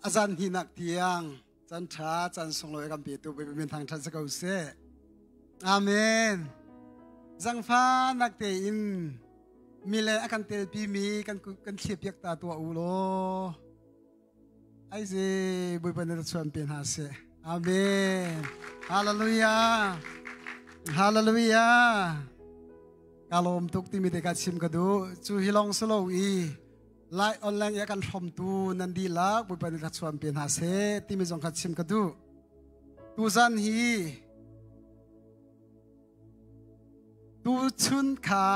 A zan hni nak tiang can ṭha can sunglawi kan pe tu min thang ṭhat si ko seh. Amen. Zangfa nak te in mi le a kan telpi mi kan kan thlipiak ta tua u law Aize Bawipa na chuan pe hna se. Amen. Hallelujah. Hallelujah. Ka lawm tuk timi te ka chim ka du. Cu hi long solo i lai online ya kan hrom tu nan di la Bawipa na chuan pe hna se timi zong ka chim ka du. Tu zan hi tu chun kha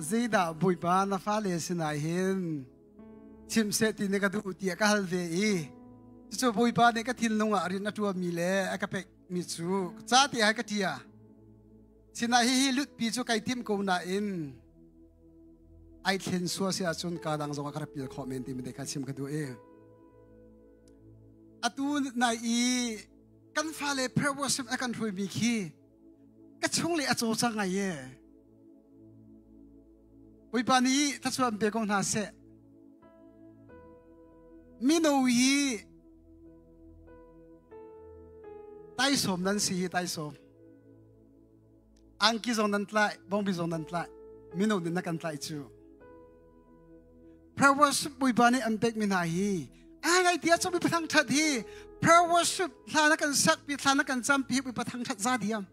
zeidah Bawipa na fa le sinai hin chim seh ti ne ka duh tiah ka hal ve i cucu bawipa nih ka thinlung ah rin a ṭuanmi le a ka pekmi cu ca te hai ka ṭia sinah hi hi lutpi cu kai tim ko nain ai thlen sua si ahcun ka dang zong a ka rapil khawh men ti mi ka chim ka duh i atu nai i kan fale prayer worship a kan hruimi khi ka chung le a caw sa ngai ye bawipa nih thachuan pe ko hna seh mino hi taisawm nan si hi taisawm angki zong nan tlai bongbi zong nan tlai mino nin na kan tlai cu prayer worship bawipa nih an pekmi hna hi ai ngai tia chu mi pathang ṭhat hi prayer worship hla na kan sakpi hla na kan campi hi pathang ṭhat za diam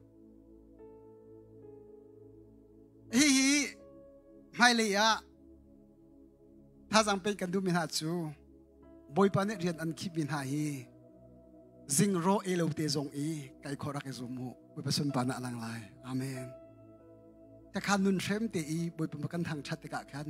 hi hi hmailei ah thazang pe kan duhmi hna cu bawipa nih rian an khipmi hna hi zing ro e lo te zong i kai khorak i zum mu bawipa sunpa na lang lai amen te khan nun hrem te i bawipa kan thang ṭhat tikah khan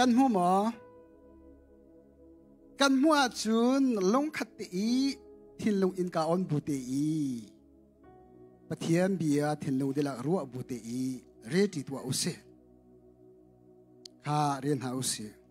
kan hmu maw kan hmu ahcun lungkhat te i thinlung in ka on bu te i pathian bia thinlung dilak ruah bu te i reti tua usi kha rian ha usi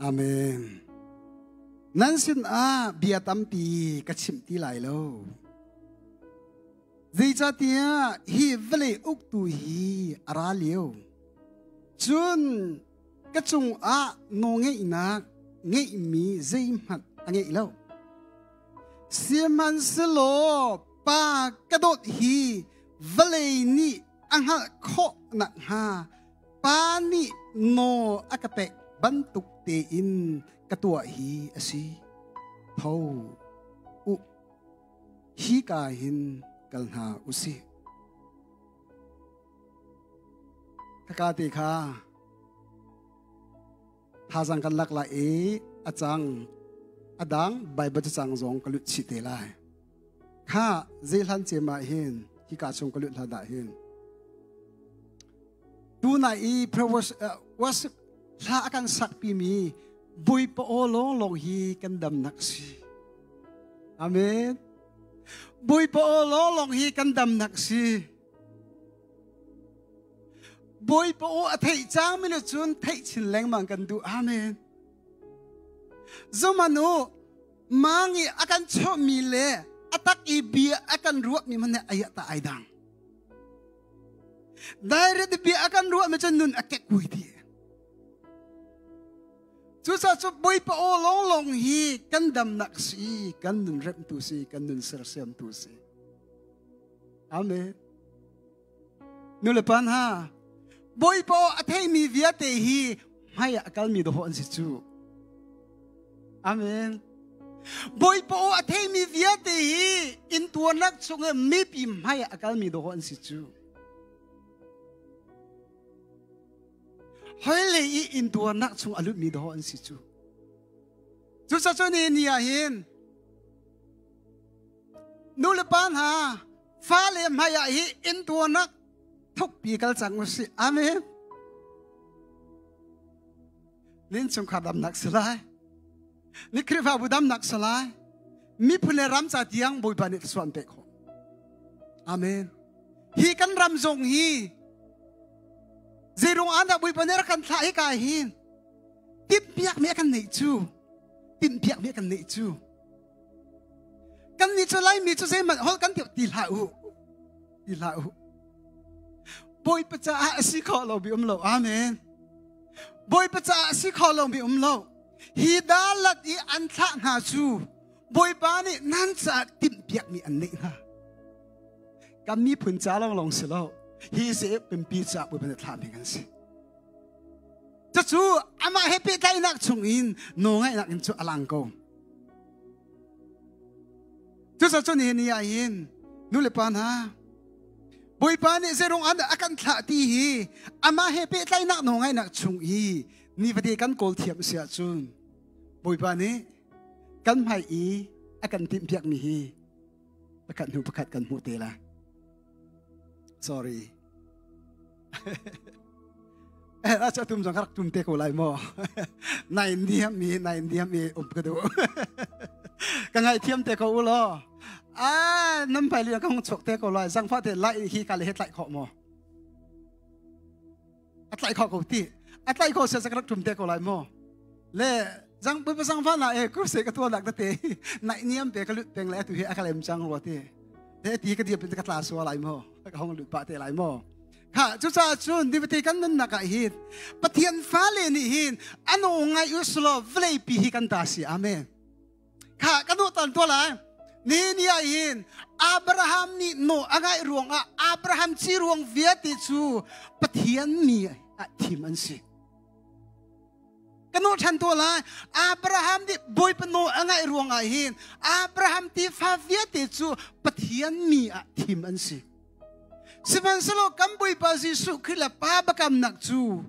Amen. Nan sinah bia tampi ka chimh ti lai lo. Zeicatiah hi vale uktu hi a ra lio. Cun ka cungah nawngeihnak ngeihmi zeihmanh a ngeih lo. Sihmanhsehlaw pa ka dawt hi vale nih a hngalh khawh nakhnga pa nih nawl a ka pek bantuk tein ka tuah hi a si tho u hi ka hin kal hna u si kaka te kha thazang kan lak lai i a cang a dang Baibal cacang zong ka lut chih te lai kha zei hlan cema hin hi ka chung ka lut hla da hin tu na i was was hla akan sak pi mi bui pa o long long hi kan dam nak si amen bui pa o long long hi kan dam nak si Bawipa aw a theih cangmi nu cun theih chin lengmang kan duh. Amen. Zumanu mangi a kan chawhmi le a tak i bia a kan ruahmi man ai ta ai dang. Direct bia a kan ruahmi cun nun a kekui ti. Cu sa cu bawipa aw long long hi kan damnak si, kan nun remtu si, kan nun sersiamtu si. Amen. Nulepa hna, Bawipa a theimi vialte hi hmai ah kalmi dawh an si cu. Amen. Bawipa a theimi vialte hi intuarnak chung i mipi hmai ah kalmi dawh an si cu. Hoile i intuarnak chung a lutmi dawh an si cu. Cucacun ni ah hin nulepa hna fale hmaiah hi intuarnak thukpi kal cang u si amen nin chungkhar damnak si lai ni khrihfabu damnak si lai miphun le ram ca tiang bawipa nih suan pek khawh amen hi kan ram zong hi zeirung an da bawipa nih rak kan thlah hi ka hin timpiak mi kan nei cu timpiak mi kan nei cu kan nih cu laimi cu zeihmanh hol kan ti hlah u ti hlah u bawipa caah a si kho lo mi um lo amen bawipa caah a si kho lo mi um lo hi dalat i an thlah hna cu bawipa nih nan caah timhpiak mi an neih hna kan miphun ca long long si lo hi se pimpi caah bawipa nih thlah mi kan si cucu amah he pehtlainak chung in no ngaihnak in cu a lang ko Cuticun hi ni ah hin nulepa hna Bawipa nih zeirung an a kan thlah ti hi amah he pehtlainak nawl ngaihnak chung i ni vate kan kawl thiam si ahcun Bawipa nih kan hmai i a kan timhpiakmi hi pakhat hnu pakhat kan hmuh te la. Sorry. Eh, a cha tum zong karak tum te ko lai maw. Nai niam mi, nai niam mi um ka du. Ka ngai thiam te ko ulo. Ah, nam pai li ka hong chok te ko lai. Zang fa te lai hi ka le het lai kho maw. a tlaih kho ko ti a tlaih kho siasa ka rak ṭum te ko lai maw le zang bu sang fa na e kruse ka tuan nak da te nai niam pe ka lut peng le tu hi aka lem chang ro ti te ti ka dia pin ka tla suwa lai maw ka hong lut pa te lai maw kha cu ca cun dibati kan nun naka hi pathian fa le ni hin anu ngai uslo vlei pi hi kan ta si amen kha ka nu tan to lai ni ni ah hin Abraham nih no a ngaih ruang ah Abraham ci ruang viate cu Pathian mi ah thim an si kanu than to lai Abraham nih bawipa no a ngaih ruang ah hin Abraham tifa viate cu Pathian mi ah thim an si sihmanhselaw kan bawipa Jesuh Khrih le pa bakam nak cu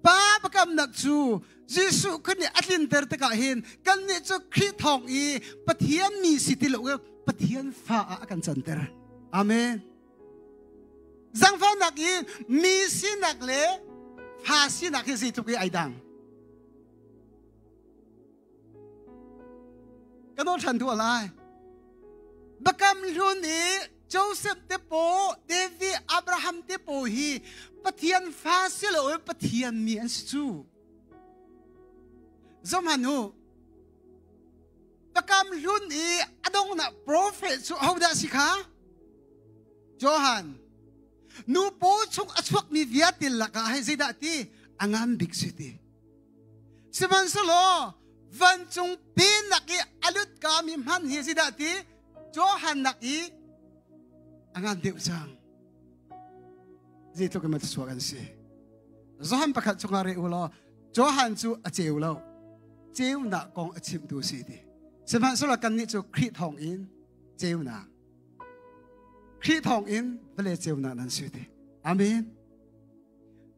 Pa pakamnak cu Jesuh kan nih a tlinter tikah hin kannih cu Khrih thawng i Pathian mi si ti lo Pathian fa ah a kan canter. Amen. Zangfahnak i mi sinak le fa sinak hi zeitluk i ai dang. ka dawt ṭhan tuah lai Bakam hlun i Joseph te po Devi Abraham te po hi Pathian fa si lo i Pathian mi an si cu zomhanu pakam hlun i adongnak profet cu hodah si kha Johan nu paw chung a chuakmi viatil lakah hei zeidah ti angam bik si ti Sihmanhsehlaw vancung pi nak i a lut ka mi hman hi si dah ti Johan nak i a ngan deuh cang zeitluk in maw thluachuah kan si Johan pakhat chungah re u law Johan cu a ceu lo ceunak kong a chimtu si ti sihmanhsehlaw kannih cu Khrih thawng in ceunak Khrih thawng in vale ceunak nan si ti amen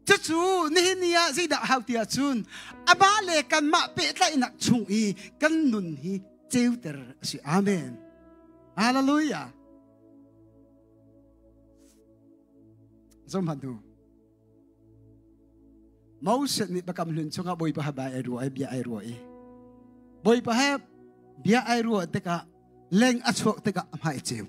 cucu nihin ni ah zeidah hau ti ahcun aba le kanmah pehtlaihnak chung i kan nun hi ceuter a si amen hallelujah zomhatu Moses nih bakam hlun chungah bawipa ha bai ai ruwa ai bia ai ruwa i bawipa he bia ai ruwa tikah leng a chuak tikah a hmai ceu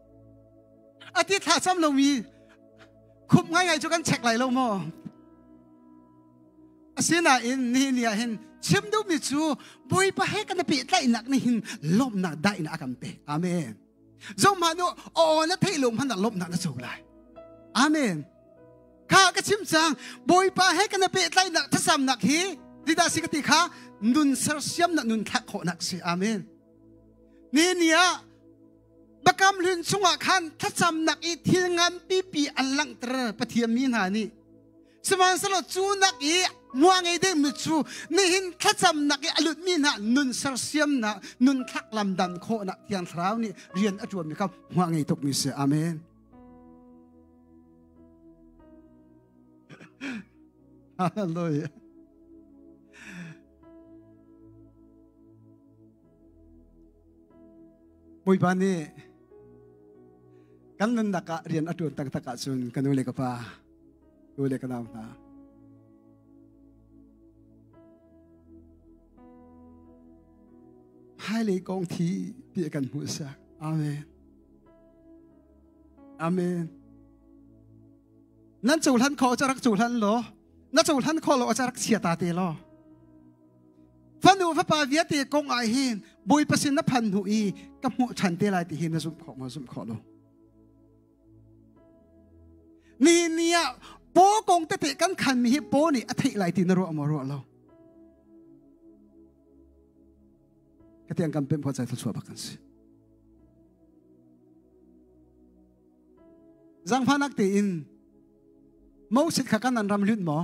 a ti thlahsam lomi khumh ngaingai cu kan chek lai lo maw asinain nihin ni ah hin chim duhmi cu bawipa he kan pe tlaihnak nih hin lawmnak dainak a kan pe amen zohmahnu aw na theih lo hmanah lawmnak na cung lai amen kha ka chim cang bawipa he kan pe tlaihnak thasamnak hi didah si ka ti kha nun sersiamnak nun thlak khawhnak si amen ni ni ah Bakam hlun chungah khan thlacamnak i thil ngan pipi an langhter pathian mi hna nih sihmanhsehlaw cu nak i muangei ding mi cu nihin thlacamnak i a lutmi hna nun sersiamnak nun thlak lam dan khawhnak tiang thlarau nih rian a ṭuanmi kha muangei tukmi si amen hallelujah Bawipa nih kan nunnak ah rian a ṭuan taktak ahcun ka nu le ka pa, nu le ka nau hna, hmailei kong thi ti kan hmuhsak. Amen. Amen. Nan cohlan khawh ca rak cohlan law, na cohlan khawh lo a ca rak chia ta te law, fanu fapa viate kong ah hin bawipa sin na phan hnu i ka hmuh ṭhan te lai ti hi na zumh khawh maw zumh khawh lo nihin ni ah po kong tete kan khan mi hi po nih a theih lai ti na ruah maw ruah lo ka tiang kan pem ho chai thil chuah bak kan si zangphanak te in mosit kha kan nan ram lut maw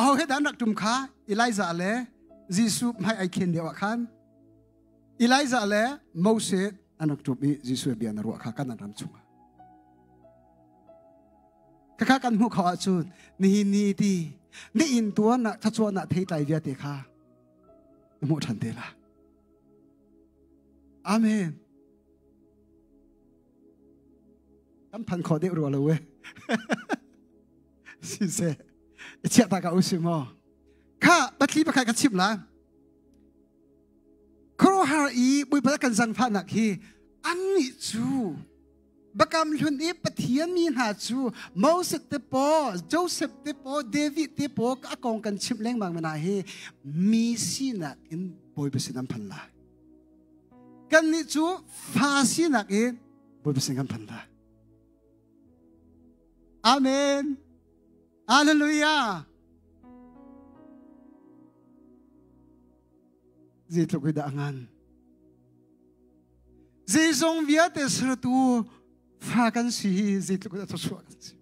aho he dan rak ṭum kha Elijah le Jesuh hmai ai khen deuh ah khan Elijah le Moses an rak ṭum i Jesuh bia na ruah kha kan ram chungah khakha kan hmuh kho ahcun nihin ni ti ni in tuan na thachuah na thei tlai viate kha hmuh ṭhan te la amen kan than kho deuh rua lo we siseh i chiah ta ka u si maw kha patli pakhat ka chim la khuaruahar i buipa kan zan fahnak hi an nih cu bakam hlun i pathian mi hna cu Moses te po Joseph te po David te po a kong kan chim lengmang mana hi mi sinak in bawipa sin an phan la kan nih cu fa sinak in bawipa sin kan phan la Amen. Hallelujah. Zeitluk hi dah ngan. Zeizong vialte sertu fa kan si hi zeitluk dah thusua kan si.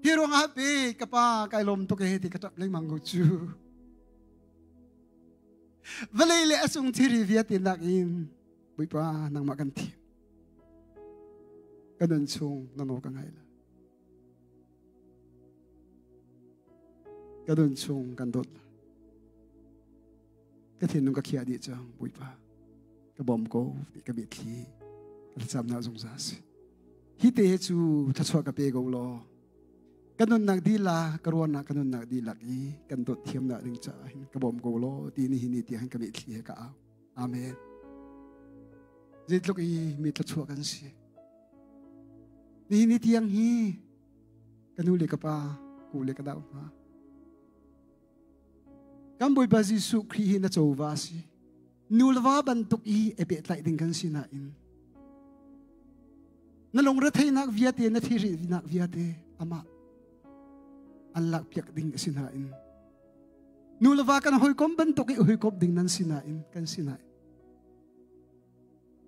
Hi ruang ah pe ka pa kai lom to ke he ti ka tap leng mang go chu. Vale le asung thiri viate nak in buipa nangma kan thi. Ka nun chung na nawl ka ngaih la. Ka nun chung kan dawt la. Ka thinlung ka khiah dih cang, Bawipa. Ka bawm ko, ka mitthli. Ka thlacam na zung za si. Hi te he cu thachuah ka pe ko law. Ka nunnak dila, ka ruahnak ka nunnak dilak i kan dawt thiam na ding caah hin ka bawm ko law ti ni hi ni ti hin ka mitthli he ka au. Amen. Zeitluk i mi tlachuah kan si. Nihin ni tiang hi ka nu le ka pa, ku le ka dau hma. Kan Bawipa Jesuh Khrih hi na chawva si. Nulva bantuk i epe tlai ding kan si nain na lungre theinak viate na thiri vinak viate amah an lak piak ding a si nain Nu le va kan hawikom bantuk i hawikom ding nan si nain kan si nain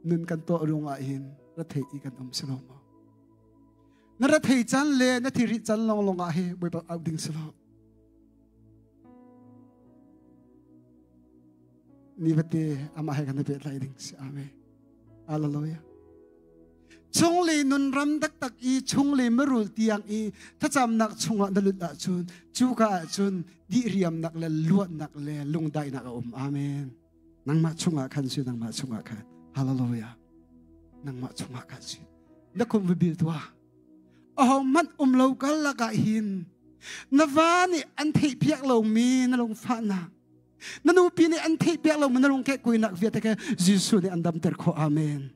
nun kan tuah ruang ah hin rathei i kan um si lo maw na rathei can le na thiri can long long ah he boi bak au ding si lo mi vate amah he kan i pehtlaih ding si amen hallelujah chung li nun ram tak tak i chung li marul tiang i thlacamnak chungah na lut ahcun cu ka ahcun di riamnak le luatnak le lungdainak a um amen nangmah chungah khan si nangmah chungah khan hallelujah nangmah chungah khan si na kum vibil tua ahohmanh um lo kal lakah hin na va nih an theihpiak lomi na lungfahnak na nupi nih an theih piak lo ma na lungke kuinak viate ke Jesuh nih an dam ter khawh amen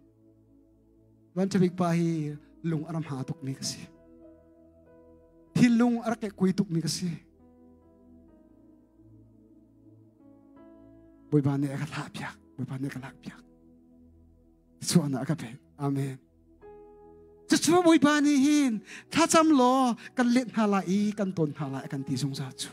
vanchawik pa hi lung aram ha tuk mi ka si hi lung arake kui tuk mi ka si bawipa nih a ka thlah piak bawipa nih a ka lak piak suana a ka pek amen cucu bawipa nih hin thlacam law kan let hna lai i kan ton hna lai kan ti zungzal cu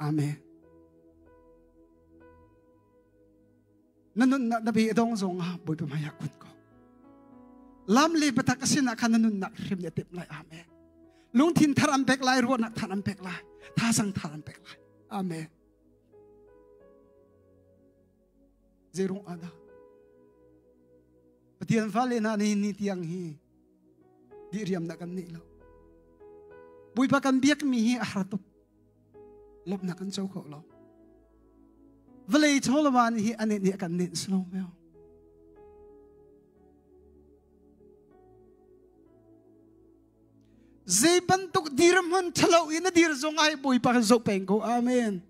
Amen. Na nunnak na be dong zong ah bawipa maya kun ko. Lam le patak asin ah khan na nunnak hrim ne tep lai amen. Lungthin thar an pek lai ruahnak than an pek lai. Tha sang thar an pek lai. Amen. Zeirung ana. Pathian vale na ni ni tiang hi di riam na kan ni lo. Bui pa kan biak mi hi a haratup. Lop na kan cho kho lo. Vale cholawan hi ane ni kan nin slow meo. Zei bantuk dir man thalo in a dir zong ai bui pa kan zo peng ko. Amen.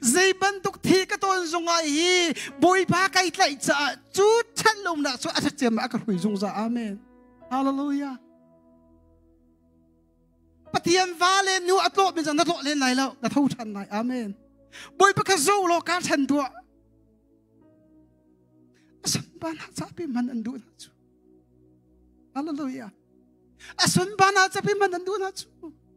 Zei bantuk thi ka ton zungah hi Bawipa kai tlaih caah cu chan lomnak cu a ṭhat ciam a ka hrui zungza amen. Hallelujah. Pathian va le nu a tlawh min zang na tlawh len lai lo na tho ṭhan lai amen. Bawipa ka zo law ka ṭhan tuah. A sunpan hna zapi man an duh hna cu. Hallelujah. A sunpan hna zapi man an duh hna cu.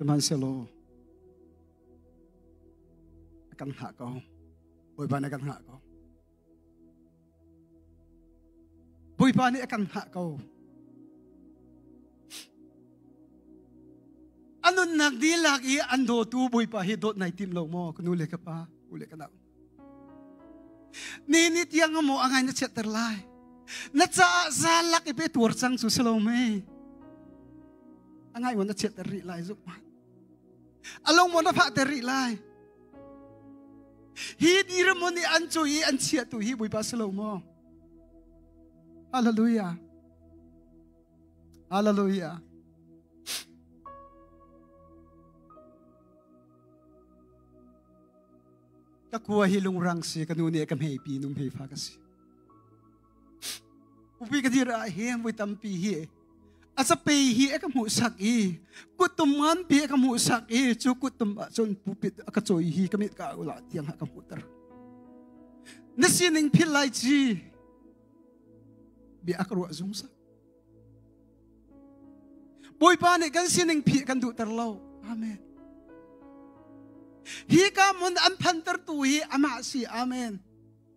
Sihmanhsehlaw kan hngah ko, Bawipa nih kan hngah ko. Bawipa nih a kan hngah ko. A nunnak dihlak i an dawtu Bawipa hi dawt nai tim lo maw ka nu le ka pa u le ka nau. Ni ni tiang a maw a ngai na chiatter lai. Na caah zalak i pe tuar cang cu si lo mei. A ngai wan na chiatter rih lai zuk ma. along mon ra phah te ri lai hi ni ramun i an cu i an chia tu hi buipa si lo maw hallelujah hallelujah ka kua hi lungrang si ka nu nih ka hmei pi num hei fa ka si upi ka dir ah hin voi tampi hi asape hi ka hmuh sak i kutum ngan pi ka hmuh sak i chu kutum ah cun pupit aka choi hi kamit ka ula tiang ha ka hmuh ter na sining phil lai chi bi akro zung sa boipa nih kan sining phi kan duh ter lo amen hi ka mun an phan ter tu hi ama si amen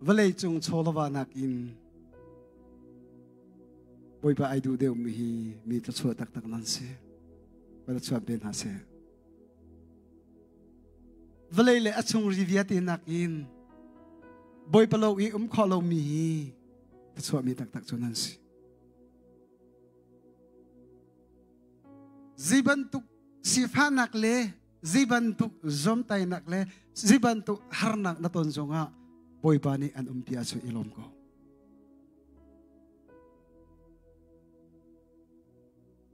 vawleicung chawlawahnak in Bawipa ai duh deuhmi hi mi thluachuah taktak nan si. Ka chuan pe hna seh. Vawlei le a chung ri viate nakin Bawipa lo i um kho lomi hi thluachuahmi taktak cu nan si. Zi bantuk sifahnak le zibantuk zomtainak le zibantuk harnak na ton zongah Bawipa nih an um tiah cu i lawm ko.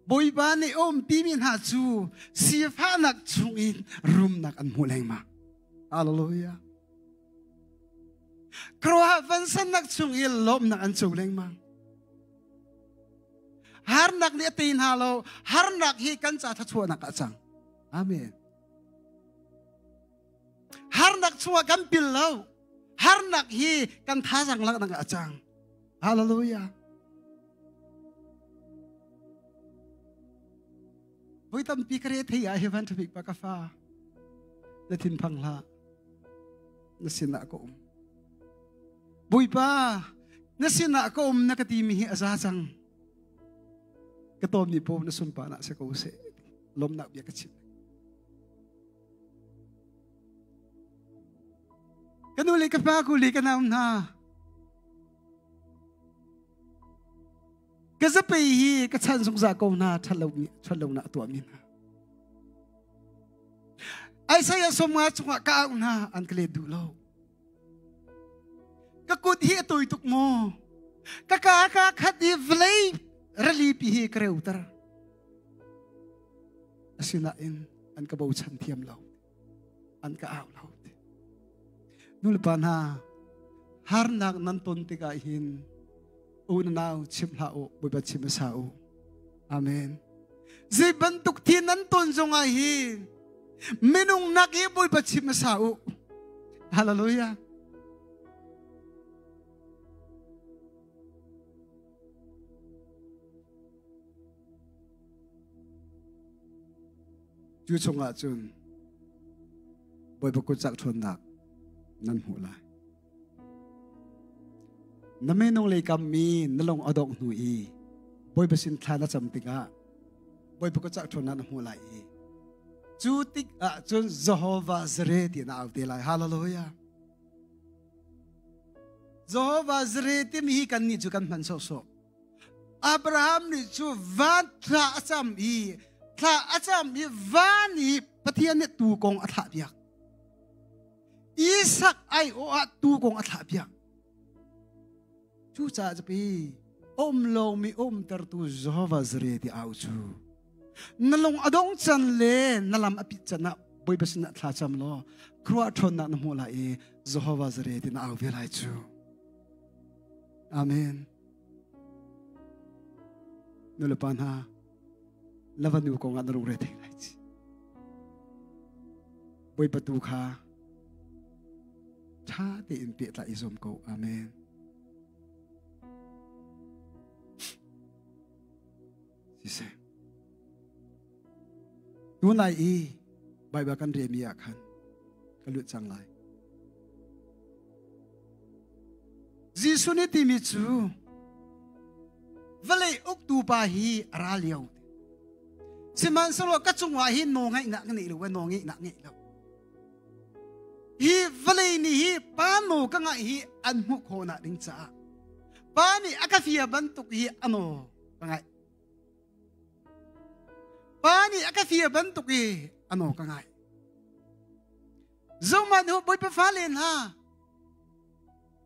Bawipa nih um timi hna cu sifahnak chung in rumnak an hmu lengmang. Hallelujah. Kruah vansannak chung in lawmnak an cung lengmang. harnak nih a tei hna lo harnak hi kan ca thluachuahnak ah cang amen harnak chungah kan pil lo harnak hi kan thazang laknak ah cang hallelujah voi tampi ka re thei ah hi van traffic pa ka fa na thin thang hla na sinah ka um buipa na sinah ka um na ka ti mi hi a za cang ka tom ni po na sun pa na se ko se lom na bia ka chim kanu le ka pa ku le ka nam na ka zapi hi ka chan zungzal ko hna ṭhatlomi ṭhatlonak tuahmi hna Isaiah somnga chungah ka au hna an ka let duh lo ka kut hi a toi tuk maw ka ka ka khat i vlei ralipi hi ka reuter asinain an ka bochan thiam lo an ka au lo ti nulepa hna harnak nan ton tikah hin unau chim hlah u bawipa chim sa u amen zei bantuk thi nan ton zongah hi minung nak hi bawipa chim sa u hallelujah cu chungah cun Bawipa kutcak ṭhawnnak nan hmuh lai. Na menung lei kammi na lung a dongh hnu i Bawipa sin thla na cam tikah Bawipa kutcak ṭhawnnak na hmuh lai i cu tikah cun Jehovah Zare ti na au te lai. Hallelujah. Jehovah Zare timi hi kannih cu kan hman sawhsawh. Abraham nih cu van thla a cam i thla a cam i van i Pathian nih tuu kong a thlah piak. Isak ai aw ah tuu kong a thlah piak. Cucaah zapi om lomi umtertu Jehovah zare ti au cu. Na lung a dong can le na lam a pit can ah bawipa sinah thla cam law khruah ṭhawnnak na hmuh lai i Jehovah zare ti na au ve lai cu. Amen. nulepa hna lavanu kong ah na lungre thei lai ci bawipa tu kha ṭha tein tehla i zuam ko amen siseh. Tunai i Baibal kan relmi ah khan ka lut cang lai. Jesuh nih timi cu vale uktu pa hi a ra lio. Sihmanhsehlaw ka cungah hi naw ngaihnak ka nei lo, no ngaihnak ngeih lo. Hi vale ni hi pa no ka ngaih hi an hmuh khawna ding caah pa nih a ka fia bantuk hi a no ka ngaih pa nih a ka fir bantuk i ano ka ngaih zongman hu bawipa fale hna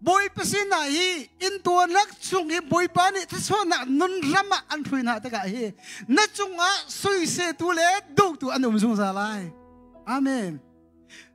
bawipa sina hi in tuanak chung hi bawipa nih thasonak nun ram ah an hrui na tikah hi na cungah suisetu le dotu an um zungzal lai amen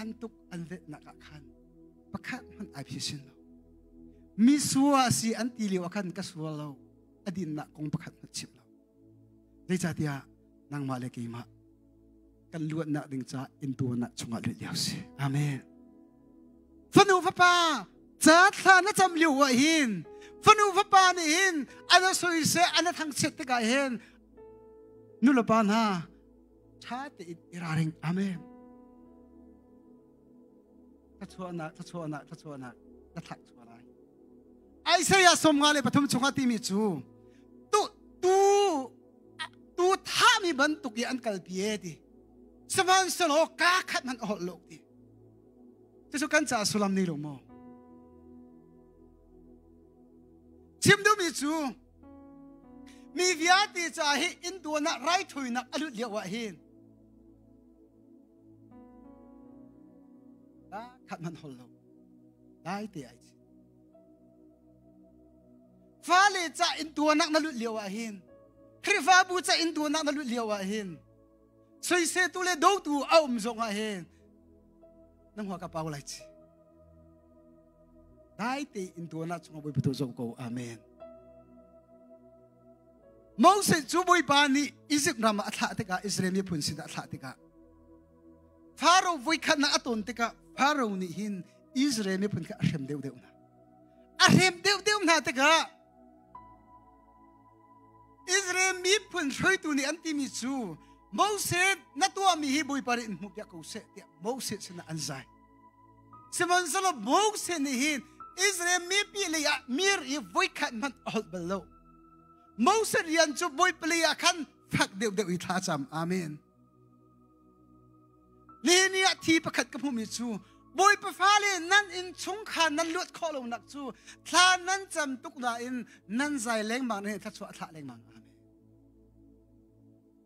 An tuk an letnak ah khan pakhat hmanh ai phi sin lo. Mi sua si an ti lio ah khan ka sual lo. A dinnak kong pakhat hmanh chim lo. Zeicahtiah nangmah le keimah kan luatnak ding ca in tuanak chungah let lio si. Amen. Fanu fapa ca thla na cam lio ah hin fanu fapa nih hin ana soise ana thangchiat tikah hin nulepa hna ṭha tein i ralring. Amen. Thluachuahnak, thluachuahnak, thluachuahnak na thlak chuah lai. Isaiah sawm nga le pathum chungah timi cu tu tu tu thami bantuk i an kalpi e ti sihmanhsehlaw ka khat man a holh lo ti cucu kan ca sullam nei lo maw chim duhmi cu Mi vialte ca hi inn duan ah raithawinak a lut lio ah hin da khat man hol lo dai te ai chi fale ca in duanak na lut lio ah hin khrifabu ca in duanak na lut lio ah hin soise tu le do tu a um zong ah hin nang hua ka pau lai chi dai tein tuan ah chungah bawipa tu zoh ko amen Moses cu bawipa nih Egypt ram ah a thlah tikah Israel miphun sinah a thlah tikah Pharaoh voikhat na a ton tikah Pharaoh nih hin Israel miphun kha a hrem deuh deuh hna a hrem deuh deuh hna tikah Israel miphun hruaitu nih an timi cu Moses na tuahmi hi bawipa nih in hmuh piak ko seh tiah Moses sinah an zai Sihmanhsehlaw Moses nih hin Israel mipi lei ah mir i voi khat hmanh a holh bal lo. Moses rian cu voi pali ah khan fak deuhdeuh i thla cam. Amen. Nihin ni ah thi pakhat ka hmuhmi cu Bawipa fale nan inn chung khan nan luat khawh lonak cu thla nan cam tuk nain nan zai lengmang nih thluachuah a thlah lengmang.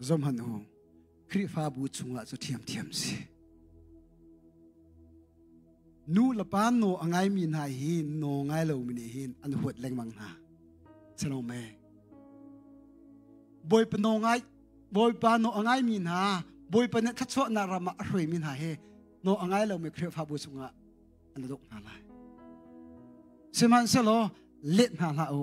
Zohman u, Khrihfabu chungah cu ṭhiamṭhiam si. Nu le pa naw a ngaimi hna hi naw ngai lomi nih hin an huat lengmang hna. Sanome. Bawipa naw ngai Bawipa naw a ngaimi hna Bawipa nih thluachuahnak ram ah a hruaimi hna hi naw a ngai lomi Khrihfabu chungah an duk hna lai. Sihmanhsehlaw let hna hlah u.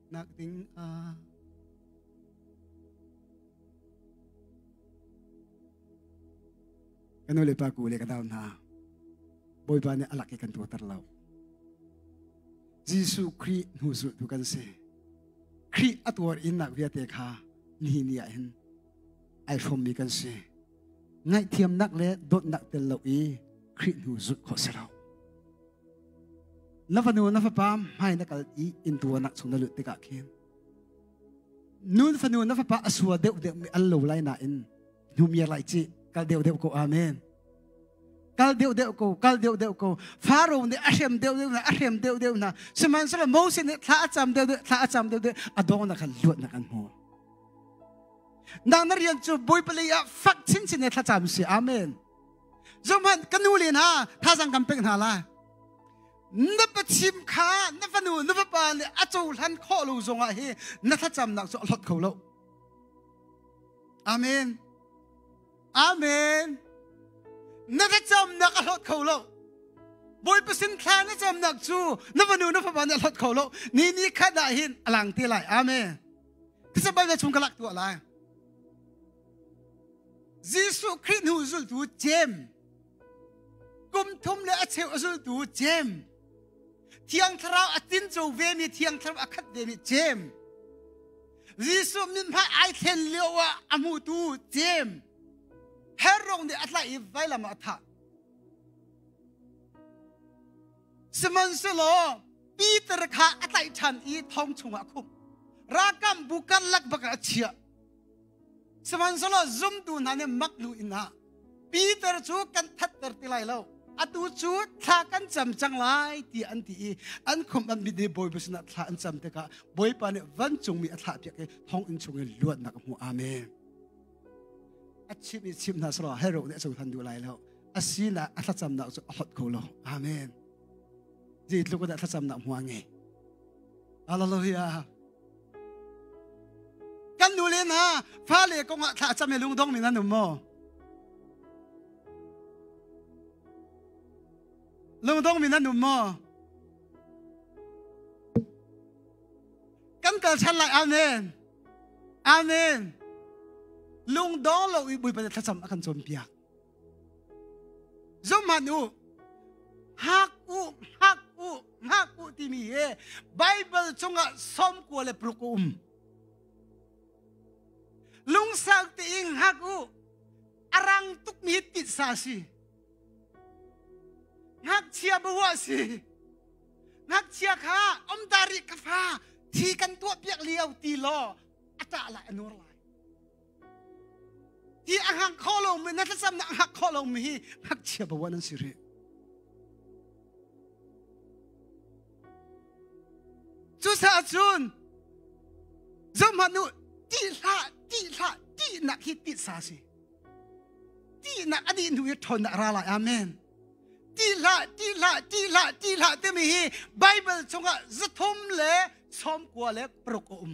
nak ding ah kan nu le pa ku le ka dau hna bawipa nih alak i kan tuater lo Jesuh Khrih hnu zultu kan si Khrih a tuar innak viate kha ni ni ah hin ai hrawmmi kan si ngaihthiamnak le dawtnak tel lo i Khrih hnu zulh khawh si lo na fanu na fapa hmai na kal i inntua nak chung na lut tikah khin nu fanu na fapa a sua deuh deuh mi al lo lai na in hnumiar lai ci kal deuh deuh ko amen kal deuh deuh ko kal deuh deuh ko faro ne a hrem deuh deuh na a hrem deuh deuh na sihmanhsehlaw moses nih thla a cam deuh deuh thla a cam deuh deuh a dong na khan luat na kan hmu nang na rian cu bawi palei ah fak chin chin ne thla cam si amen Zohhmanh ka nu le hna thazang kan pek hna lai. Na pachim kha na fanu na vapa nih a cohlan khawh lo zongah hi na thlacamnak cu a hlot kho lo. Amen. Amen. Na thlacamnak a hlot kho lo. Bawipa sin thla na camnak cu na fanu na fapa nih a hlot kho lo. Ni ni khat ah hin a lang te lai. Amen. Ti sa bai na chung ka lak tuah lai. Jesuh Khrih hnu zultu Jem kum thum le a cheu a zultu Jem Thiang Thlarau a tin co vemi Thiang Thlarau a khat vemi Jem Jesuh min hmai ai thlen lio ah a hmutu Jem Herong nih a tlaih i vailam ah a thah Sihmanhselaw Peter kha a tlaih ṭhan i thong chungah a khumh ralkam bu karlak bak ah a chiah Sihmanhsehlaw zumtu hna nih mak lu inn ah Peter cu kan thatter ti lai lo. Atu cu thla kan cam cang lai ti an ti i an khum an mit i Bawipa sinah thla an cam tikah Bawipa nih vancungmi a thlahpiak i thonginn chungin luatnak a hmu. Amen. A chim i chim hna selaw hero nih a cohlan duh lai lo. A sinak a thlacamnak cu a hot ko lo. Amen. Zei tluk in a thlacamnak hmu a ngei. Hallelujah. Kan nule hna fale kongah thla cam i lungdong men an um maw? Lungdong men an um maw? Kan kal than lai amen. Amen. Lungdong lo i bui pa thlacam akan chom piak. Zohhmanh u, hak u, hak u, hak u timi hi Baibal chungah sawmkua le paruk a um. Lungsang tein hak u, a rang tukmi titsa si. Ngakchia bawa si. Ngakchia kha omdari ka fa thi kan tuah piak lio ti law a tah lai a nur lai. hi a hngak kho lomi na thlacam na hngak kho lomi hi ngakchia bawan an si rih cucaah cun zomhanu ti hla ti hla ti nak hi ti sa si ti nak ani nu hi thon na ra lai amen ti hla ti hla ti hla ti hla timi hi bible chungah zathum le chawm kua le paruk a um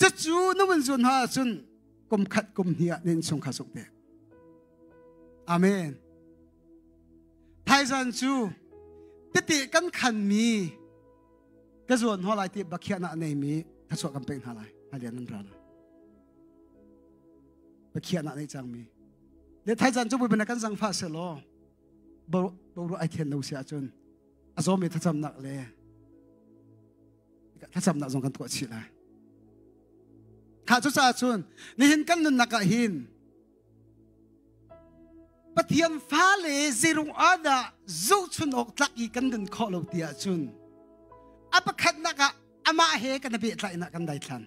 Cucu na vun zuun hna ahcun kum khat kum hnih ah nin chung kha suk te. Amen. Thaizan cu tete kan khan mi ka zuan hɔ lai ti bakhiah na nei mi thachuah kan pek hna lai halian nan ra lai bakhiah na nei cang mi le thaizan cu buibana kan zang fa se law bo ru ai then lo sia cun a zo mi thacamnak le thlacamnak zong kan tuah chih lai kha cu caah cun nihin kan nunnak ah hin pathian fale zeirung ahdah zohchun awk tlak i kan nun khawh lo ti ah cun a pakhatnak ah amah he kan beh tlainak kan dai thlan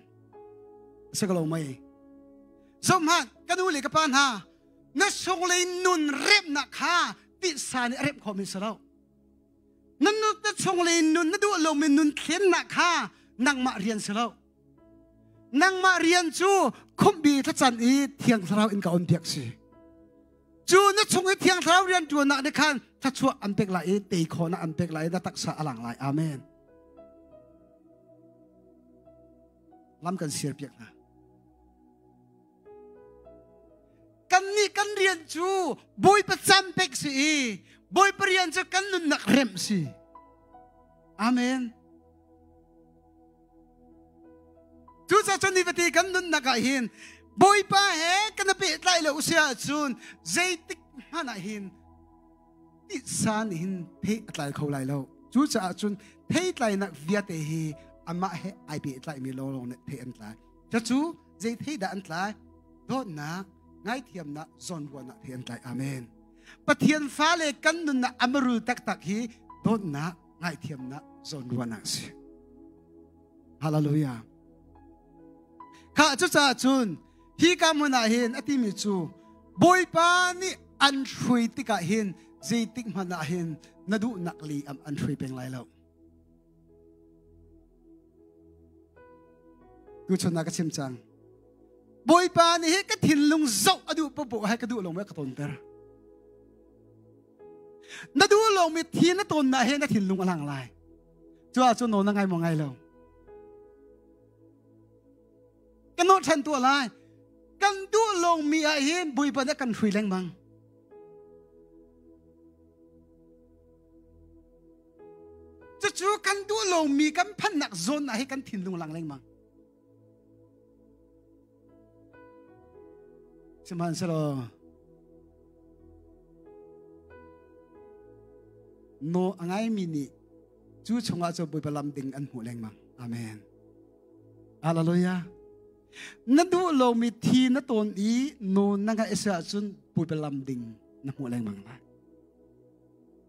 si ko lo mai zomhan kan u le ka pa hna na sung le nun remnak kha tisa nih a rem khomi si lo na nut na chungle in nun na duh lomi nun thlennak kha nangmah rian si lo nangmah rian cu khumbi thlacan i thiang thlarau in ka on piak si cu na chung i thiang thlarau rian ṭuannak nih khan thluachuah an pek lai i tei khawhnak an pek lai na taksa a lang lai amen lam kan siar piak hna Kannih kan rian cu Bawipa can pek si i Bawipa rian cu kan nunnak remh si. Amen. Cucacun ni vati kan nunnak ah hin Bawipa he kan i pehtlai lo si ahcun zeitik hmanh ah hin titsa nih hin thei a tlai kho lai lo. Cucaah cun theitlainak viate hi amah he ai pehtlai mi lawlawng nih thei an tlai. Cacu zei thei dah an tlai? Dawtnak, ngaithiamnak, zawnbuanak thei an tlai. Amen. Pathian fale kan nunnak a marul taktak hi dawtnak, ngaithiamnak, zawnruahnak si. Hallelujah. Kha cucaah cun hi ka mun ah hin a timi cu Bawipa nih an hrui tikah hin zeitik hmanh ah hin na duhnak li am an hrui peng lai lo. Tuchun ah ka chim cang. Bawipa nih hi ka thinlung zoh a duh popo hai ka duh lo me ka ton ter. Na duh lo mi thin na ton na he na thinlung a lang lai. Chu ah chun no na ngai mo ngai lo. Kan no than tua lai. Kan duh lo mi ah hin buipa na kan hui leng mang. Cucu kan duh lomi kan phannak zone ah hi kan thinlung lang lengmang. Sihmanhsehlaw no a ngaimi nih cu chungah cu Bawipa lam ding an hmuh lengmang. Amen. Hallelujah. Na duh lomi thi na tawn i no na ngah is ahcun Bawipa lam ding na hmuh lengmang lai.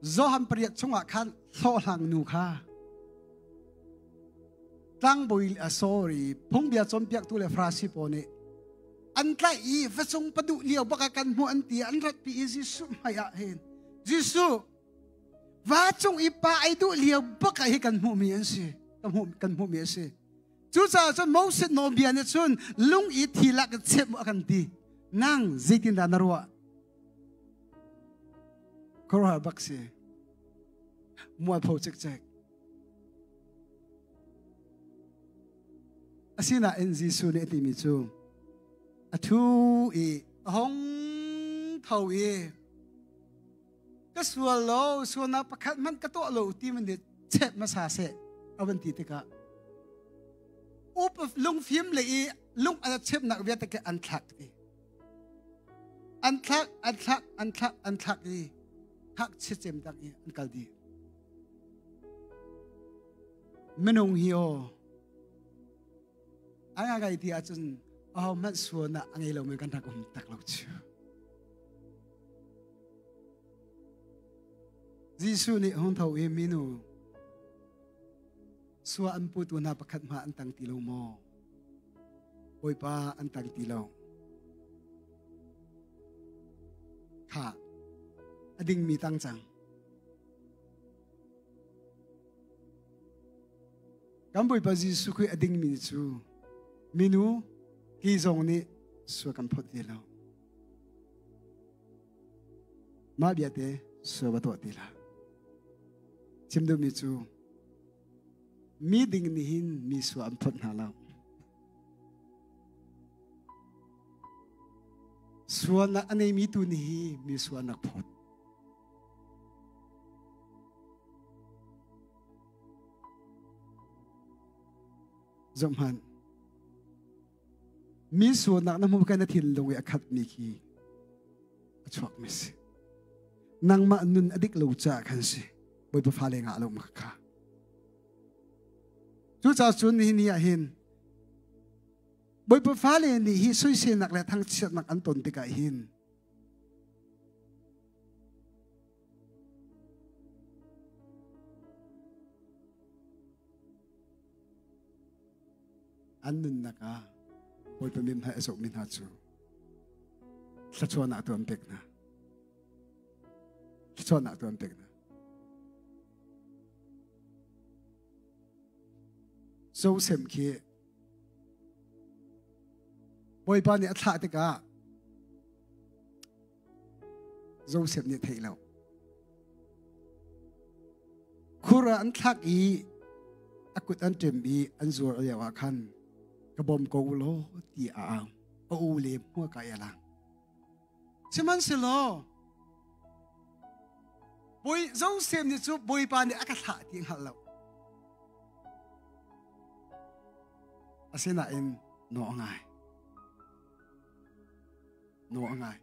Johan pariat chungah khan hlawhhlang nu kha tlangbawi a sorry phungbia cawnpiaktu le farasi pawl nih an tlaih i fasung paduh lio baka kan hmuh an ti an ratpi i Jesuh hmaiah hin Jesuh va cung i pa ei duh lio baka hi kan hmuhmi an si kan hmuh kan hmuhmi a si cucaah cun Moses nawlbia nih cun lung i thi lak in chep a kan ti nang zeitindah na ruah Khuaruahar bak si. Mualpho cikcek. Asinain Jesuh nih a timi cu a thu i a hong tho i ka sual lo sualnak pakhat hmanh ka tuah lo ti man dit chep masa se awan ti tikah up of lungfim le i lung ala chep nak viate ke an thlak ti an thlak an thlak an thlak an thlak i thak chichem tak i an kal dih minung hi o an ga gai ti ahcun aho hmanh suan ah a ngei lomi kan rak um tak lo cu Jesuh nih hung tho i minu sua an putu hna pakhat hma an tang ti lo maw bawipa an tang ti lo kha a dingmi tang cang kan bawipa jesuh khrih a dingmi cu minu ti zong nih sua kan phawt te lo mah biate sua va tuah ti la chim duhmi cu Mi ding nih hin mi sua an phawt hna lo. Suan a neimi tu nih hi mi sua an rak phawt. Zohman, mi sualnak na hmu kan na thinlung i a khat mi khi a chuak mi si nangmah nun a dik lo caah khan si bawipa fale nga lo maka kha cucaah cun hi ni ah hin bawipa fale nih hi soiselnak le thangchiatnak an ton tikah hin an nunnak ah Bawipa min hmai a zokmi hna cu thluachuahnak tu an pek hna. Thluachuahnak tu an pek hna. Joseph khi Bawipa nih a thlah tikah Joseph nih theih lo. Khur ah an thlak i a kut an ṭem i an zuar lio ah khan ka bawm ko law ti a au a u le hmua ka ya lang sihmanhsehlaw bawi Joseph nih cu bawipa nih a ka thlah ti hngal lo asinain no ngai naw a ngai.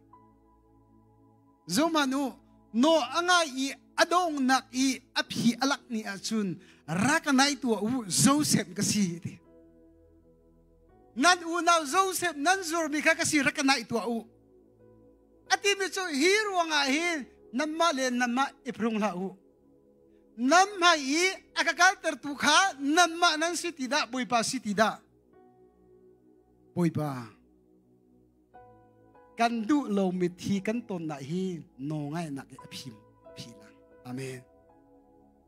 Zomah nu naw a ngai i a dongnak i a phi a lak ni ahcun rak nai tua u Joseph ka si ti. Nan unau Joseph nan zurmi kha ka si rak nai tua u. A timi cu hi ruangah hin nanmah le nanmah i prung hlah u. Nan hmai i a ka kalter tu kha nanmah nan si ti dah Bawipa si ti dah. Bawipa kan duh lomi thi kan tonnak hi nawngainak i a phim phi lang amen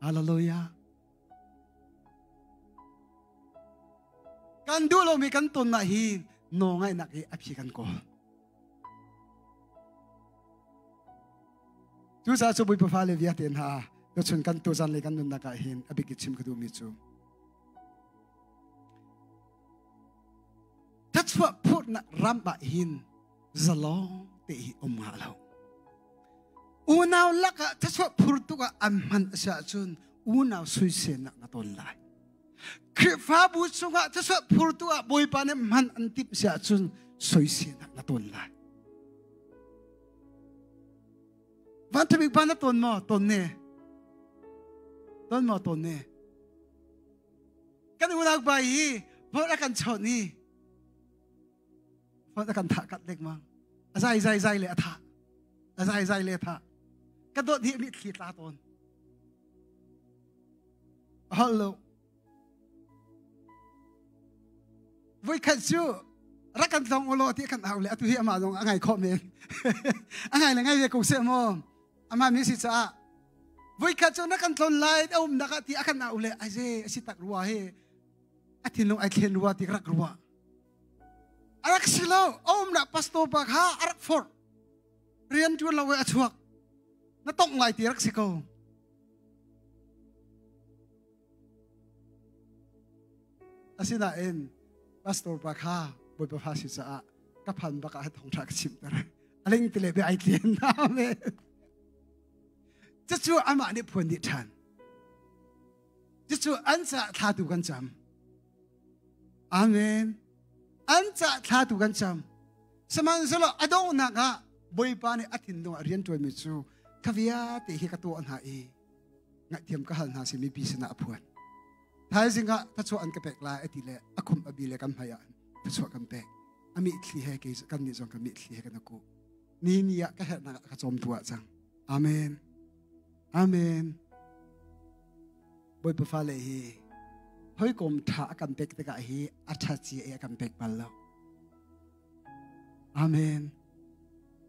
hallelujah kan duh lomi kan tonnak hi nawngainak i a phi kan kawl cu sa cu bui pafa le via te hna ka chun kan tu zan le kan nunna ka hin abiki chim ka du mi chu thluachuah phurnak ram ah hin zalong te hi um ha lo unau lakah thluachuah phurtuk ah an hman a si ahcun unau suisenak na ton lai Khrihfabu chungah thluachuah phurtu ah Bawipa nih hman an timh si ahcun soisenak na ton lai van thabik pa na ton maw ton ne ton maw ton ne kan unaupa hi phone a kan chonh i phone a kan thah kat lengmang a zai zai zai le a thah a zai zai le a thah ka dawt hi mit thli tla tawn a holh lo voi khat cu rak kan tlong ulaw ti kan au le atu hi amah zong a ngai khawh men a ngai le ngai ve ko se maw Amah mi si caah voikhat cu na kan tlon lai a umnak ah ti a kan au le ai ze a si tak rua he a thinlung ai thlen rua ti ka rak rua a rak si lo a umnak pastor pa kha a rak forh rian ṭuan lo a chuak na tongh lai ti rak si ko Asinain pastor pa kha Bawipa Fasi caah ka phan bak ah thong ṭha ka chimter. A ling tile be ai tlen amen. Cucu amah nih phuan dih ṭhan. Cucu an ca thlatu kan cam. Amen. An ca thlatu kan cam. Sihmanhsehlaw a donghnak ah Bawipa nih a thinlung a rian ṭuanmi cu ka viate hi ka tuah hna i ngahthiam ka hal hna si mipi sinah a phuan thaizing ah thachuah an ka pek lai ati le akhum abi le kan hmaiah thachuah kan pek ami thli he ke kan ni zong kan mi thli he kan ku ni ni ah ka herna ka chom tua chang amen amen boy pa le hi hoi kom tha kan pek tikah hi atha chi e kan pek bal lo amen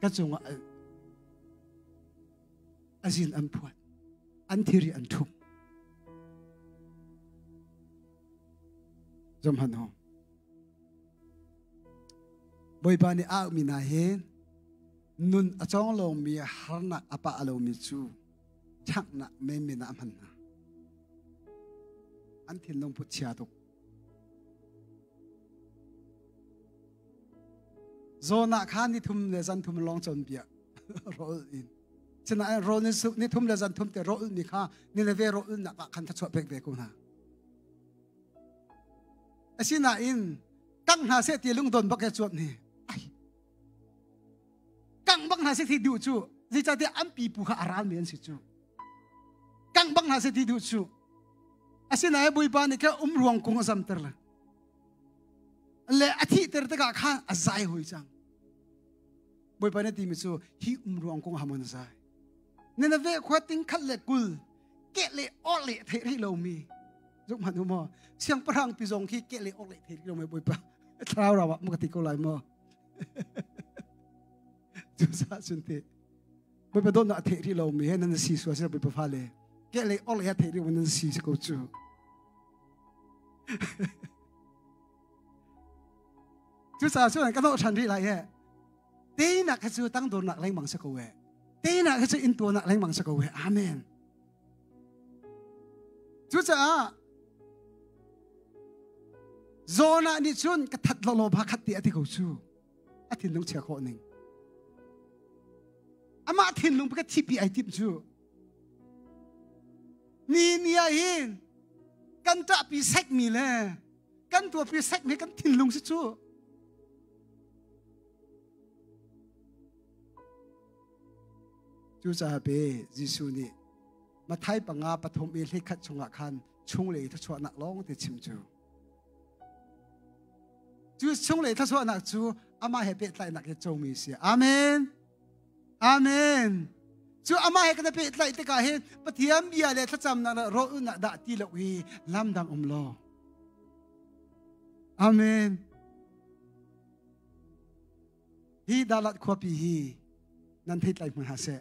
ka cungah azin an phuan an thiri an thum zomhan ho bawipa nih a mi na he nun a cong lomi harnak a pa alomi cu chaknak menmen ah hman hna an thin lungput chia tuk Jonah kha ni thum le zan thum long chon bia rol in sinain rol ni ni thum le zan thum te rol ni kha ni le ve rol nak ah khan thachuah pek ve ko hna asinain kang hna se ti lungdon bak ya chuap ni ai kang bak hna se thi du chu zicate an pi pu kha aral men si chu kangh bang hna se ti duh cu asinain bawipa nih kha um ruang kung a zamter le le a thihter tikah khan a zai hoi cang bawipa nih timi cu hi um ruang kung hamon a zai nena ve khua ting khat le kul ke le or le thei rih lomi zong hman u maw siangpahrang pi zong khi ke le or le thei rih lomi bawipa thlarau rawa muka ti ko lai maw cusa sunte Bawipa dawtnak a theih rih lomi he nan si sual sih Bawipa fale. Ke lei or he theih rih nan si si ko cu. Cucaah cu ka doh than rih lai he. Te nak he cu tang dor nak lengmang se ko we. Te nak he cu in tua nak lengmang se ko we. Amen. Cucaah Jonah nih cun ka that lo lo ba khat ti a ti ko cu. a thinlung chia khawh ning amah thinlung ka thipi ai tim cu ni ni ah hin kan ṭahpi sekmi le kan tuahpi sekmi kan thinlung si cu cucaah pe Jesuh nih Mathai panga pathum i hlikhat chungah khan chung le i thluachuahnak lawng te chim cu Cu chunglei thluachuahnak cu amah he pehtlainak i cungmi si. Amen. Amen. Cu amah he kan pehtlaih tikah hin Pathian bia le thlacamnak le rawhnak dah ti lo i lam dang um lo. Amen. Hi Dalat khuapi hi nan thei tlai hmai ha seh.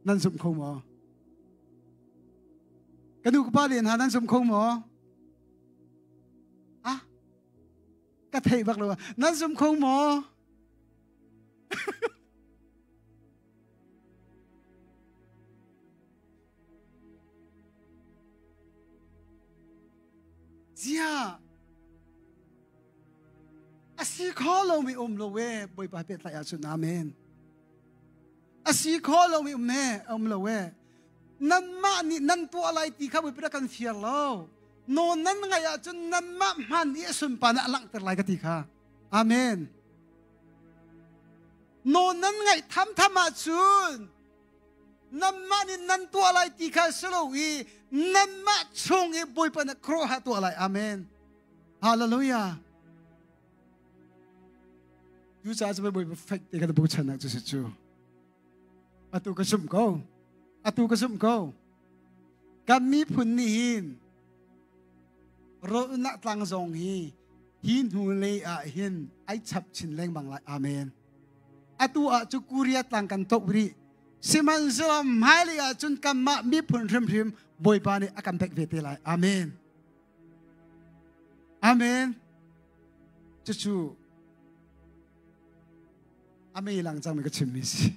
Nan zumh kho maw? Ka nu ka pa len ha nan zumh kho maw? Ah, ka thei bak lo. Nan zumh kho maw? Ziah! A si kho lomi um lo e, Bawipa pe tlai ahcun amen. A si kho lomi um ne, um lo e. Nanmah nih nan tuah lai ti kha Bawipa kan fir lo. No nan ngai ahcun nanmah hman i sunpan ah langhter lai ka ti kha. Amen. No nan ngaih tham tham ahcun nanmah nih nan tuah lai ti kha si lo i nanmah chung i bawipa na khuaruahhar tuah lai amen hallelujah cu caah cu bawipa fek te kan bu chan ah cu si cu atu ka zumh ko atu ka zumh ko kan miphun nih hin rolnak tlang zong hi hi hnu lei ah hin ai chap chin lengmang lai amen atu ah cu Korea tlang kan tok rih sihmanhsehlaw hmailei ah cun kanmah miphun hrimhrim Bawipa nih a kan pek ve te lai amen amen cucu a mei lang cangmi ka chimmi si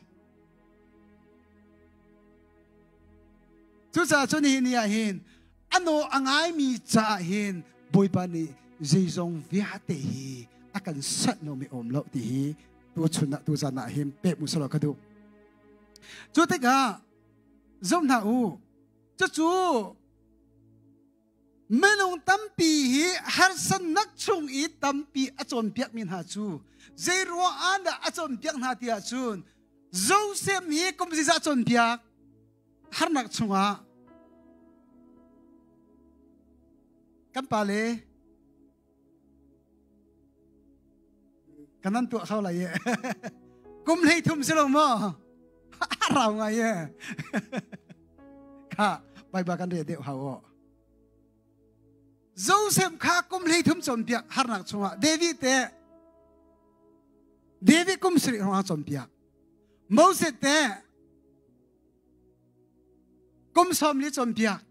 cucaah cun hi ni ah hin a naw a ngaimi caah hin bawipa nih zeizong viate hi a kan sat nomi a um lo ti hi tu chun ah tu zan ah hin pek mu salo ka duh cu tikah zoh hna u cucu minung tampi hi harsannak chung i tampi a cawnpiak mi hna cu zei ruah ah dah a cawnpiak hna tiah cun zosem hi kum ziza cawnpiak harnak chungah kan pale kanan tuah hau lai ye kum hlei thum si lo mo rau ngai ye kha bai ba kan re de hau o Joseph kha kum hlei thum chon piak harnak chungah David te David kum sri hong chon piak Moses te Kum sawm li cawnpiak.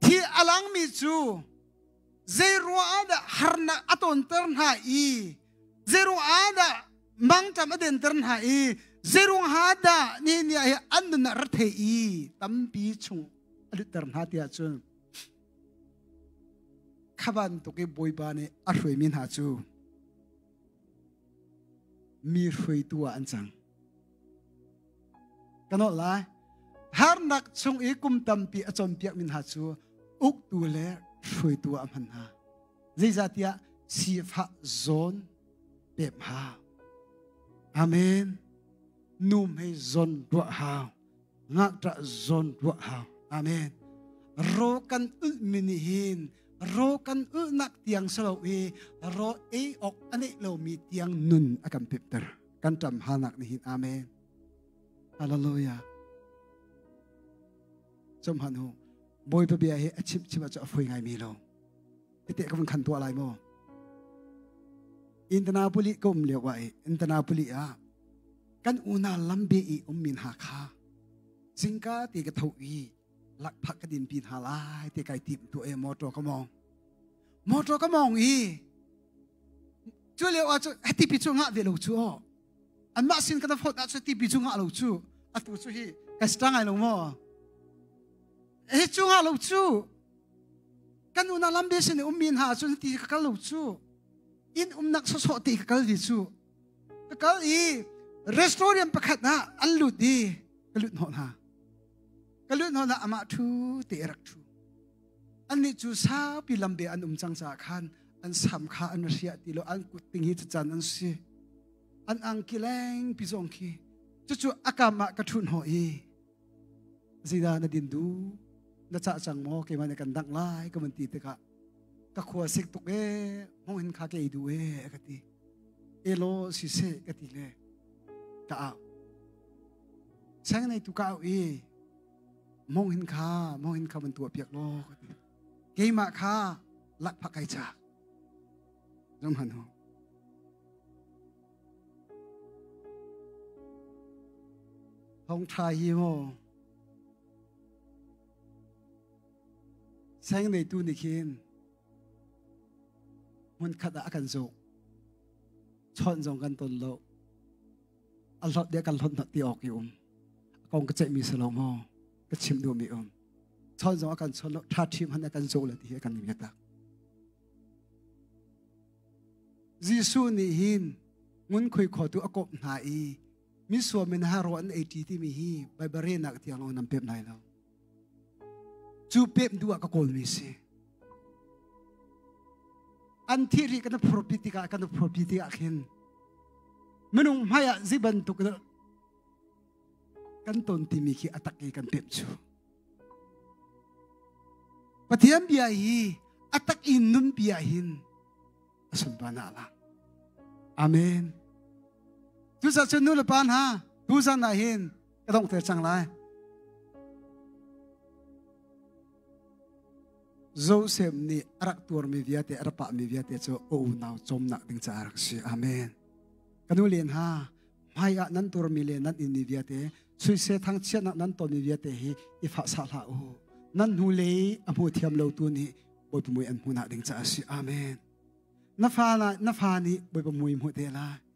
Hi a langmi cu zeiruah ah dah harnak a tawnter hna i zeiruah ah dah mangṭam a denter hna i zeiruang ha dah ni ni hi an nun ah rethei i tampi chung a lutter hna tiah cun khaban tuk i bawipa nih a hruaimi hna cu mi hruaitu ah an cang Ka nolh lai. Harnak chung i kum tampi a cawnpiakmi hna cu uktu le hruaitu ah hman hna. Zeicahtiah sifah zawn pem hau. Amen. Nu hmei zawn ruah hau. Ngakṭah zawn ruah hau. Amen. Ro kan ulhmi nih hin ro kan ulhnak tiang si lo i ro ei awk a neih lomi tiang nun a kan pemter. kan ṭam hanak nihin amen hallelujah zum han hu bawipa bia hi a chim chim cu a foi ngai mi lo ite ka van khan tua lai maw intanapoli ka um lio wa i intanapoli ah kan una lambe i um min ha kha singka ti ka tho i lak phak ka din pin ha lai te kai tim tu e motor ka mong motor ka mong i cu leo ah cu hati pi cu ngah ve lo cu aw an mah sin kana phot ah cu ti pi cu ngah lo cu atu cu hi ka sta ngai lo mo e cu ngah lo cu kan una lambe sin um min ha cun ti ka kal lo cu in umnak so so ti ka kal di cu ka kal i restaurant pakhat na an lut di ka lut no na ka lut no na ama thu te rak thu annih cu saupi lambe an um cang caah khan an sam kha an ria ti lo an kut ding hi cucan an si an angkileng pi zong khi cucu akam ah ka ṭhun ho i zina na din du na cah cang maw keimah ne kan dang lai ka man ti tikah ka khua sik tuk e mong hin kha ke du e ka ti e lo si se ka ti le ka au sang nei tu ka au i monghin kha monghin kha van tuah piak law keimah kha lakphak kai cha zong hanu thong tha hi mo seng nei tu ni khin hmun khat ah kan zo chon zong kan ton lo a hlawt dia kan hlawt ti awk i um kong ka ceihmi si lo maw ka chim duh mi um chon zong a kan chon lo tha thim han kan zo le ti hi kan mi tak Jesuh nih hin ngun khui kho tu akop hna i mi suamin ha ro an 80 ti mi hi baibare nak tiang long nam pep nai lo Cu pem duh ah ka kawlmi si. An thihri kan phurpi tikah kan phurpi tikah khin minung hmaiah zi bantuk kan ton timi khi atak i kan pem cu. Pathian bia hi atak in nun bia hin a sunbana la. Amen. Tusa cu nu le pa hna, tu zan ah hin ka dongh te cang lai Joseph nih a rak tuarmi viate a rak pahmi viate cu ka unau cawmnak ding caah rak si amen ka nu len ha hmai ah nan tuarmi le nan inni viate suise thangchiatnak nan tonmi viate hi i fa sa hla u nan hnu le a hmu thiam lo tu nih bawipa mui an hmunak ding caah si amen na fa na fa nih bawipa mui hmu te la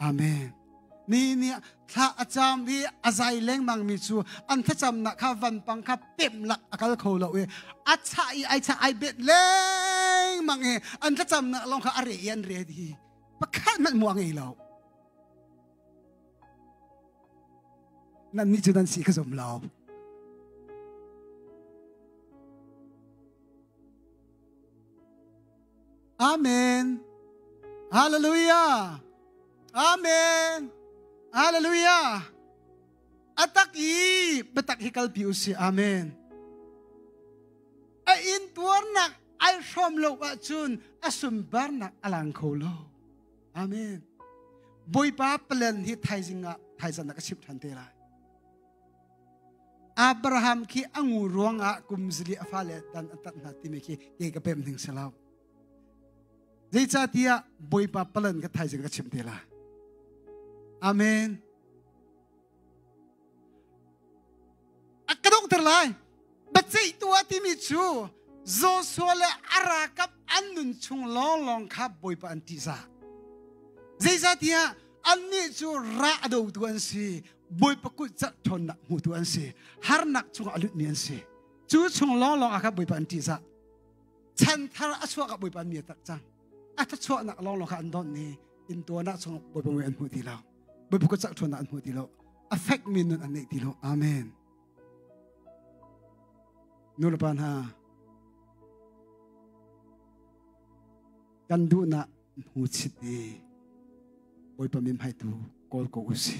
Amen. Ni nih thla a cam i a zai lengmang mi cu an thlacamnak kha vanpang kha pem lak a kal kho lo i a chah i ai chah ai bet lengmang i an thlacamnak lawng kha a re i an re hi pakhat hmanh mu a ngei lo. Nannih cu nan si ka zum lo. Amen. Hallelujah. Amen. Hallelujah. Atak i biatak hi kalpi u si. Amen. A intuarnak ai hrom lo ahcun a sumbarnak a lang kho lo. Amen. Bawipa plan hi thaizing ah thaizan nak a chim ṭhan te lai. Abraham khi a ngu ruangah kum zali a fale tan a tat hna timi khi kei ka pem ning si lo. Zeicahtiah Bawipa palan ka thaizing ka chim te la. Amen. A ka dongter lai. Baceih tua timi cu Joshua le a rakap an nun chung lawnglawng kha Bawipa an tihzah. Zeicahtiah annih cu ra a dotu an si. bawipa kulh cerh ṭhawnnak hmutu an si harnak chungah a lutmi an si cu chung lawnglawng ah khan bawipa an ṭih sah chan thar a chuak ah bawipa an mir tak cang a thluachuahnak lawnglawng kha an donh i intuarnak chung bawipa mui an hmu ti lo bawipa kulh cerh ṭhawnnak an hmu ti lo a fek mi nun an neih ti lo amen nulepa hna kan duhnak hmu chit i bawipa mi hmaitu kawl ko usi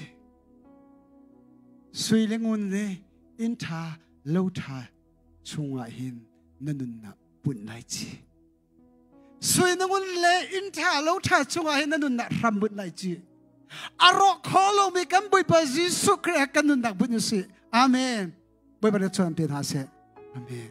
sui le ngun le inn ṭha lo ṭha chungah hin na nunnak pun lai ci sui na ngun le inn ṭha lo ṭha chungah hin na nunnak hram bunh lai ci a rawh kho lomi kan bawipa jesuh khrih kan nunnak bunh usi amen bawipa na chuan pe hna se amen